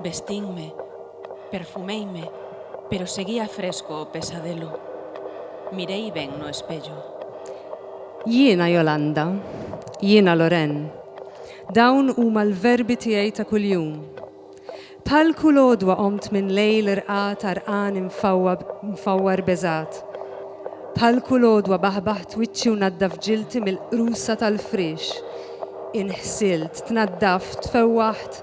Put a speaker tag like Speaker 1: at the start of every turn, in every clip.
Speaker 1: Vestínme, perfuméime, pero seguía fresco o pesadelo. Miréi ben no espello.
Speaker 2: Jiena Jolanda. Jiena Loren. Dawn huma l-verbi tiegħi ta' kuljum. Bħal kull għodwa qomt minn lejl irqad għarqan imfawwar beżgħat. Bħal kull għodwa baħbaħt wiċċi u naddaf ġilti mill-qrusa tal-friex. Inħsilt, tnaddaft, tfewwaħt.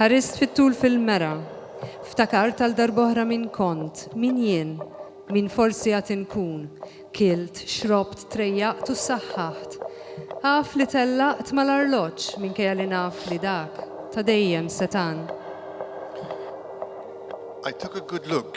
Speaker 2: Ħarist fit-tul fil-mera. Ftakart għal darb'oħra min kont, min jien, min forsi għad inkun. Kilt, xrobt, trejjaqt u ssaħħaħt. Af li tellaqt mal-arloġġ minkejja li naf li dak, ta' dejjem, setan.
Speaker 3: I took a good look.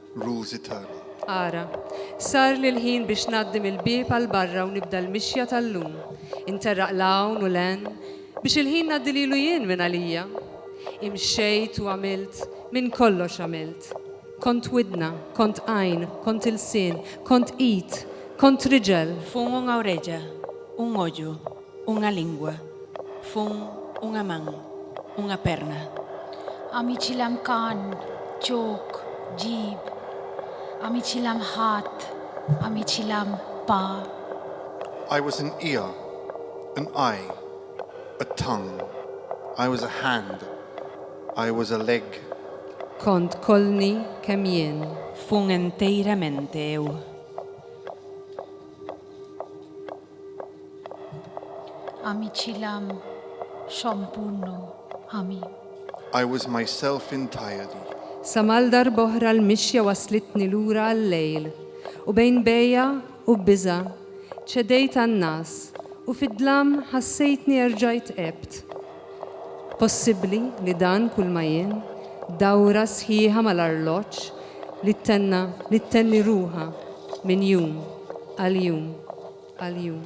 Speaker 3: Rużi tagħna. Ara,
Speaker 2: sarli l-ħin biex ngħaddi mill-bieb għal barra u nibda l-mixja tal-lum, interraq 'l hawn u 'l hemm, biex il-ħin ngħaddi lilu jien minn għalija. Imxejt u għamilt, minn kollox għamilt. Kont widna, kont għajn, kont ilsien, kont id, kont riġel. F'umu u reġa',
Speaker 1: u moġu. Unha lingua, fun unha man, unha perna. Amici
Speaker 4: lam can, ġok, ġib. Amici lam ħadd, amici lam pa.
Speaker 3: I was an ear, an eye, a tongue. I was a hand, I was a leg. Kont
Speaker 2: kolni kemm jien. Fun
Speaker 1: enteiramente eu.
Speaker 4: Amicilam xompunnu ami. I was
Speaker 3: myself entirely. Sa mal
Speaker 2: darb'oħra l-mixja wasslitni lura għal-lejl, u bejn bejgħa u bbiża' ċedejt għan-ngħas, u fid-dlam ħassejtni erġajt għebt, Possibbli li dan kulma jien, dawra sħiħa mal-arloġġ li ttenna li ttenni ruħha minn jum għal jum għal jum.